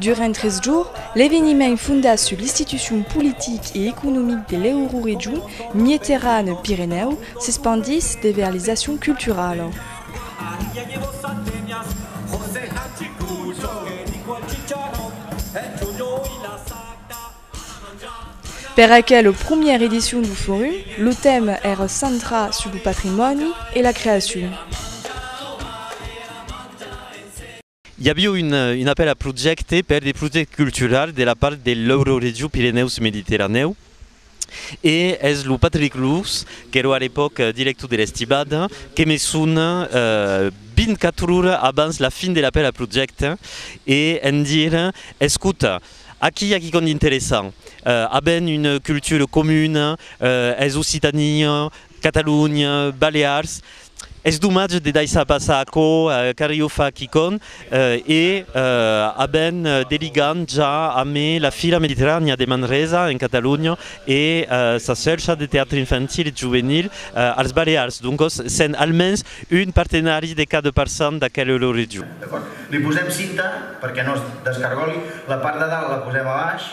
Durant tres jours, l'eveniment fondat sus l'institucion politic e economic de l'Euroregion Mieterane-Pirenèu s'espandís de vers les accions culturalas. Per aquela promièra edicion du forum, lo tèma èra centrat sus lo patrimòni e la creacion. I avió un apèl a projècte per de projècte cultural de la part de l'Euroregió Pirenèus-Mediterranèu e es lo Patrick Lous, qu'èra a l'epòc director de l'Estibada, que me sona 24 ora abans la fin de l'apèl a projècte e en dir, escota, aquí i a quicòm d'interessant, avèm una cultura comuna, es Occitània, Catalonha, Balears, Es domatge de daissar passar aquò car io fa quicòm e a ben de ligam ja amé la Fira Mediterranèa de Manresa en Catalonha e sa Cèrca de Teatre Infantil e Juvenil als Balears, doncos sent almens un partenari de cada parçan d'aquel Euroregion. Li posem cinta perque nos descargòli, la part de dalt la posem a baix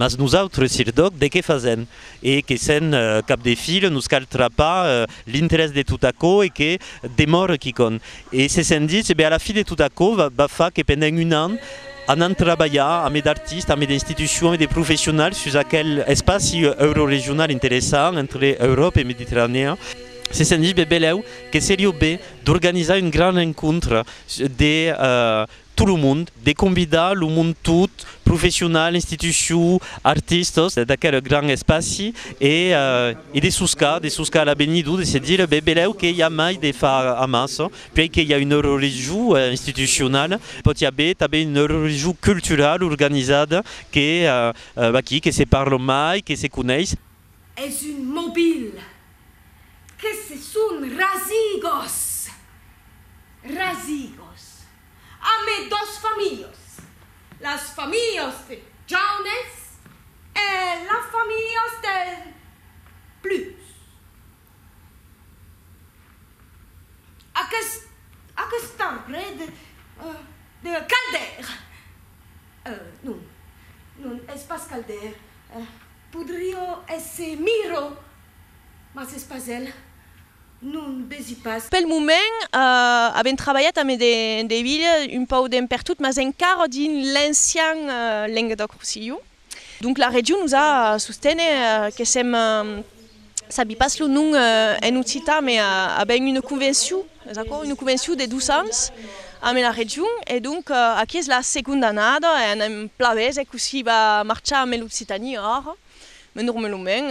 Mas nosautres, sirdoc, de qué fasèm? E que sèn cap de fil, nos cal trapar l'interès de tot aquò e que demòre quicòm. E se sent ditz, e ben a la fi de tot aquò va far que pendent un an anant trabalhar amé d'artistes, amé d'institucions, amé de professionals sus aquel espaci euroregional interessant entre Euròpa e Mediterranèa, se sent ditz, ben belèu que serió ben d'organizar un gran rencontre de tot lo mond, de convidar lo mond tot, professional, institucion, artistas, d'aquel grand espaci e de soscar, de soscar a l'avenido, de se dire, ben velèu que i a mai de far amassa, puèi que i a un eurorejor institucional, pòt i aver tanben un eurorejor cultural organizat que aquí, que se parla mai, que se coneis. Es un mobil Que se son rasigos, rasigos, amé dos familhos, las familhos de Jaunes e las familhos del Plus. Aquest, aquest arbre de, de Caldair, eh, non, non, es pas Caldair, eh, podrió èsser Miró, Mas es pas el, non, besi pas. Pel moment, avèm trabalhat amb de Devilha un pauc d'en pertot, mas encara dins l'ancian Lenguedòc-Rossilhon. Donc la region nos a sostene que sèm, sabi pas lo nom en occitan, me avèm una convencion, es aquò? una convencion de dos ans amb la region e donc aquí es la segonda annada e anèm plan veser cossí va marchar amb l'Occitània ara. Me dorme lo men,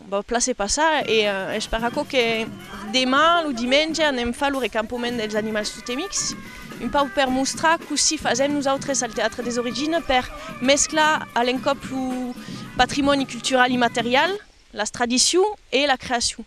vau place passar e esperar aquò que demà, lo dimenge, anem far lo recampoment dels animals totemics, un pauc per mostrar cossí fasèm nosautres al Teatre des Origines per mesclar a l'encòp lo patrimòni cultural immaterial, las tradicions e la creacion.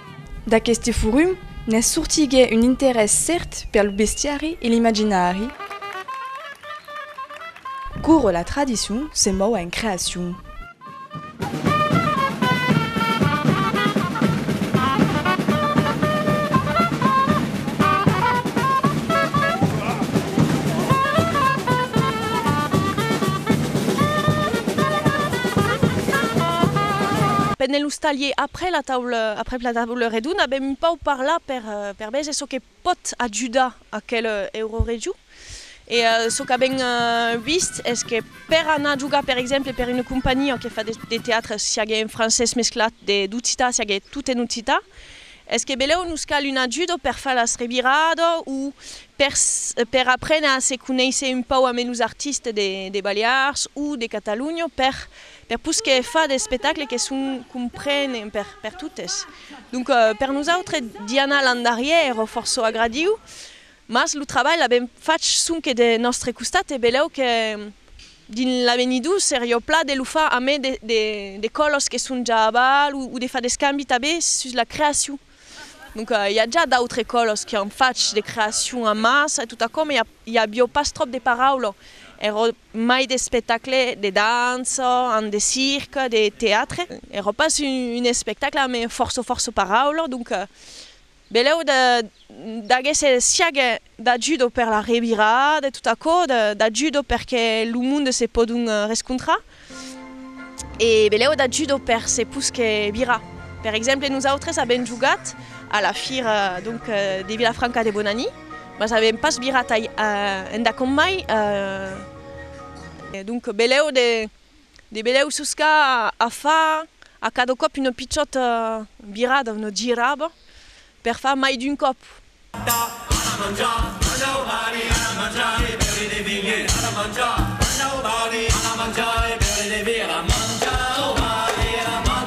D'aqueste forum ne sortigué un interès cèrt per lo bestiari e l'imaginari. Coure la tradicion se mòu en creacion. Pendent los talhiers a. après la taula, après la taula redona bèm un pauc parlar per per veger çò que pòt ajudar aquel Euroregion e çò qu'avèm vist es que per anar jogar per exemple per una companhiá que fa de teatre siague en francés mesclat de d'occitan siague tot en occitan es que belèu nos cal un ajudo per far las revirada o per per aprene a se conéisser un pauc ambe los artistes de de Balears o de Catalonha per Per pus que fa d'espectacle que son comprenent per per totes. Donc per nosautre d'i anar l'an darrièr o fòrço agradiu, mas lo trabalh l'avèm fach sonque de nòstre costat e belèu que dins l'avenidor serió pla de lo far amé de de de còlos que son ja aval o o de far d'escambi tabé sus la creacion. Donc i a ja d'autres còlos qui an fach de creacion a massa e tot aquò, mas i a i avió pas tròp de paraula. Ero mai d'espectacle de dança an de circ de teatre era pas un espectacle a me fòrça fòrça paraula donc beleu de d'aguest siague da judo per la revirada de tot aquò da judo perque lo monde se pòdon rescontrar e beleu da judo per se posque virar per exemple nosautres avèm jogat a la fira donc de Vilafranca de Bonani. Mas avèm pas virat a endacòm mai, donc belèu de de belèu sosca a far a cada còp una pichòta virada, una giraba, per far mai d'un còp.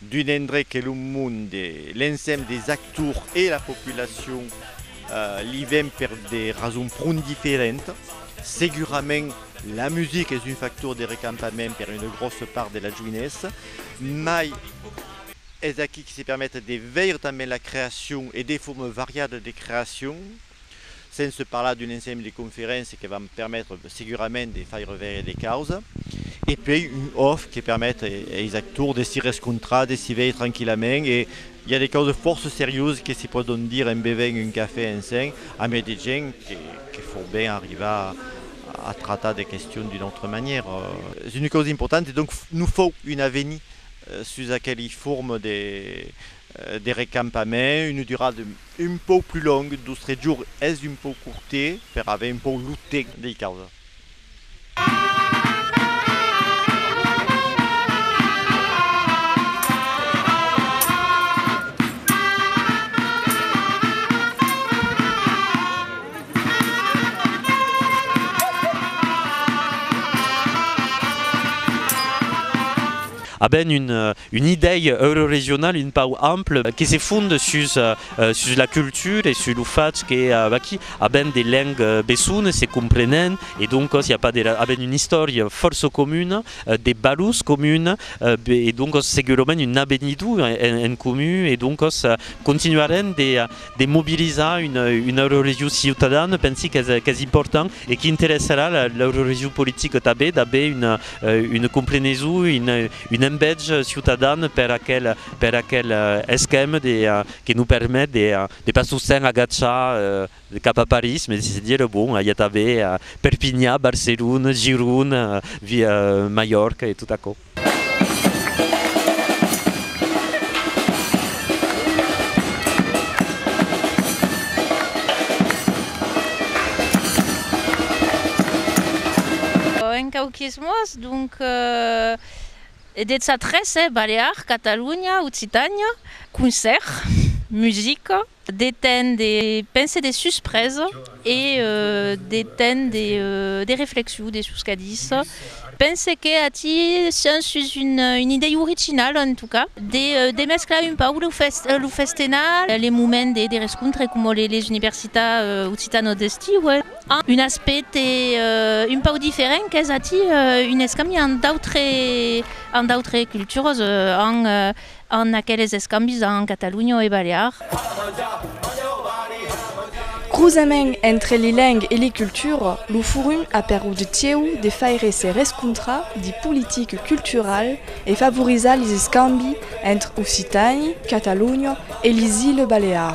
d'un endrech que lo monde, l'ensemble des actors e la populacion li ven per de rasons pron diferentas. Segurament la musica es un factor de recampament per una gròssa part de la joinessa, mai es aquí que se permet de veire tanben la creacion e de formas variadas de creacion. Sense parlar d'un ensemble de conferéncias que van permetre segurament de faire veire de causa. E puèi un off que permet eis actors de si rescontrar, de si veir tranquillament e i a de causas fòrça seriosas que se pòdon dire en bevent un cafè ensenh amé de gent que fòu ben arribar a tratar de questions d'una autra manièra. Es una causa importanta e donc non fòu un avenir sus aqueli formes de de recampament, una durada un pauc plus longa, dos tres jours es un pauc curte per aver un pauc lo temps dei causa. A ben un Un idèi euroregional un pauc ample que se fond sus sus la cultura e sus lo fach que aquí avèm de lengs besones se comprenent e doncas i a pas de ra avèm una istòria fòrça comuna, de valors comunes e doncas segurament un avenidor en comun e doncas continuarem de de mobilizar una eurorregion ciutadana, pensi qu'es important e qu'interessarà l'eurorregion politica tanben d'aver una compreneson, un envètz ciutadan per aquel esquèma que nos permet de pas sosten agachar cap a París, mai de se dire, bon, i a tanben Perpinhan, Barcelona, Girona, Mallorca e tot aquò. En quauques mots, donc, e detz a tres, eh, Balear, Catalunya, Occitània, concèrt, musica. de temps de penser de suspresa e de temps de de reflexion de sus qu'a dich. Pense que ací sens sus un un idei originala en tot cas de de mesclar un pauc lo fes lo festenal les moments de de rescontre coma les les universitats occitanos d'estiu amb un aspècte un pauc diferent qu'es ací un escambi amb d'autres amb d'autres cultures amb En aqueles escambis en Catalunha e Balear. Crusament entre li leng e li cultura, lo forum a perut tieu de faire se rescontrar li politic cultural e favorizar li escambi entre occitani, Catalunha e li Iles Balear.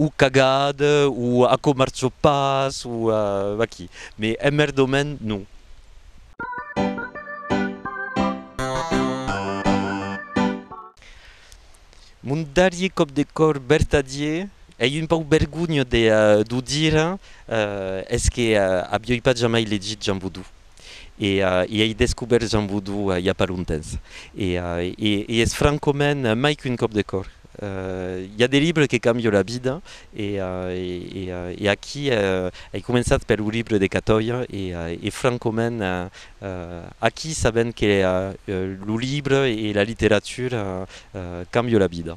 o cagat o a comarço pas o aquí me emmerdòmen non. Mon darrier còp de còr vertadier ei un pauc vergonha de d'o dire es que avioi pas jamai legit Jean Boudou e ei descobèrt Jean Boudou i a pas longtemps e es francament mai qu'un còp de còr. I a de libres que càmbion la vida e aquí ai començat per lo libre de Catòia e francament aquí sabent que lo libre e la literatura càmbion la vida.